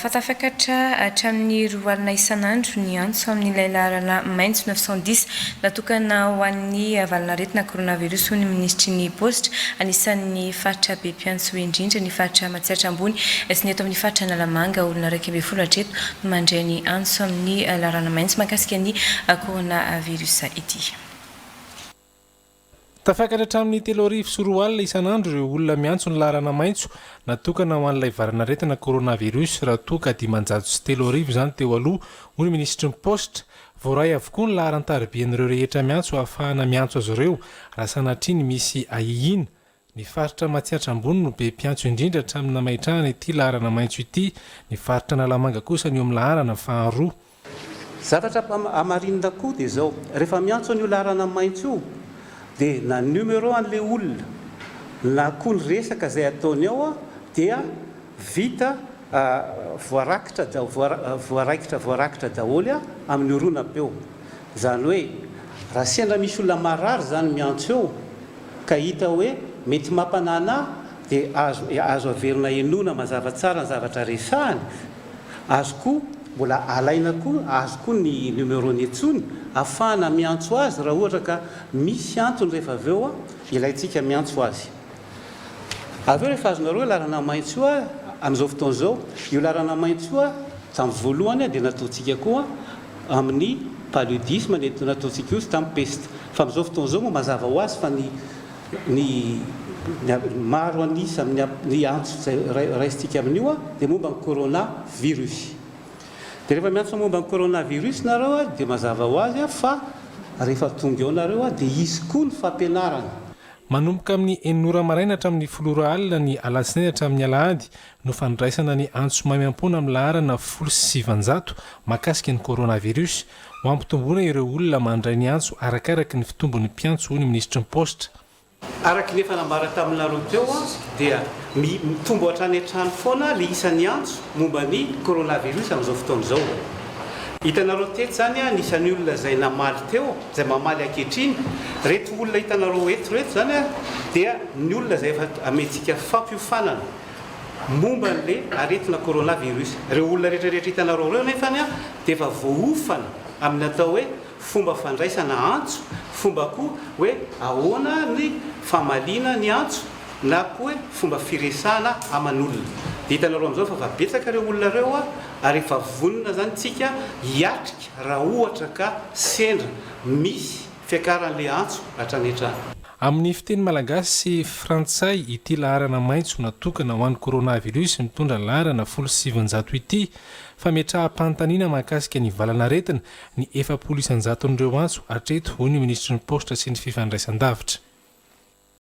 Fa tafakatra hatramin'ny roa alina isan'andro ny antso amin'ilay laharana maitso neuf cent dix natokana ho an'ny valan'aretina coronavirus hoy ny minisitry ny paositra. Anisan'ny faritra be mpiantso indrindra ny faritra Matsiatra Ambony sy ny eto amin'ny faritra Analamanga. Olona iraika ambin'ny folo hatreto no mandray ny antso amin'ny laharana maitso mahakasika ny coronavirus ity. Tafakatra hatramin'ny telo arivo sy roa alina isan'andro ireo olona miantso ny laharana maitso natokana ho an'ilay valan'aretina coronavirus raha toa ka dimanjato sy telo arivo izany teo aloha, hoy ny minisitry ny paositra. Voaray avokoa ny laharan-taribean'ireo rehetra miantso hahafahana miantso azy ireo raha sanatria ny misy ahiahiana. Ny faritra Matsiatra Ambony no be mpiantso indrindra hatramin'ny namaitrahana ity laharana maitso ity, ny faritra Analamanga kosa no eo amin'ny laharana faharoa. Zavatra hamarinina koa dia izao, rehefa miantso an'io laharana maitso io dia na ny numéro an'ilay olona na koa ny resaka izay ataony ao dia. Vita voarakitra voaraikitra voarakitra daholo amin'ny horonam-peo. Izany hoe raha sendra misy olona marary izany miantso eo ka hita hoe mety mampanana dia azo azo averina henoina mazava tsara ny zavatra resahany, azo koa mbola alaina koa azo koa ny numerony intsony afahana miantso azy raha ohatra ka misy antony rehefa avy eo ilaintsika miantso azy. Avy eo rehefa azonareo hoe laharana maitso io amin'izao fotoana izao, io laharana maitso io tamin'ny voalohany dia nataontsika koa amin'ny paludisme dia nataontsika koa izy tamin'ny peste. Fa amin'izao fotoana izao moa mazava ho azy fa ny ny maro an'isa amin'ny ny antso izay raisintsika amin'io dia momba ny corona virus. Dia rehefa miantso momba ny corona virus nareo dia mazava ho azy fa rehefa tonga eo nareo dia hisy koa ny fampianarana. Manomboka amin'ny enina ora maraina hatramin'ny folo ora alina ny alatsinainy hatramin'ny alahady no fandraisana ny antso maimaimpoana amin'ny laharana folo sy sivinjato mahakasika ny coronavirus, ho hampitomboana ireo olona mandray ny antso arakaraka ny fitombon'ny mpiantso, hoy ny minisitry ny Paositra. Araka ny efa nambara taminareo teo dia mitombo hatrany hatrany foana ny isan'ny antso momba ny coronavirus amin'izao fotoana izao. Hitanareo teto izany an, isan'ny olona izay namaly teo, izay mamaly ankehitriny, ireto olona hitanareo eto ireto izany an, dia ny olona izay efa amentsika fampiofanana momba an'ilay aretina coronavirus. Ireo olona rehetra rehetra hitanareo ireo anefa an, dia efa voaofana amin'ny atao hoe fomba fandraisana antso, fomba koa hoe ahoana ny famaliana ny antso, na koa hoe fomba firesahana aman'olona. Dia hitanareo amin'izao fa efa betsaka ireo olona ireo ary efa vonona izany tsika hiatrika raha ohatra ka sendra misy fiakaran'ilay antso hatrany hatrany. Amin'ny fiteny malagasy sy frantsay ity laharana maitso natokana ho an'ny coronavirus mitondra laharana folo sy sivinjato ity. Fametraham-panontaniana mahakasika ny valan'aretina ny efapolo isan-jaton'ireo antso hatreto, hoy ny minisitry ny Paositra sy ny Fifandraisandavitra.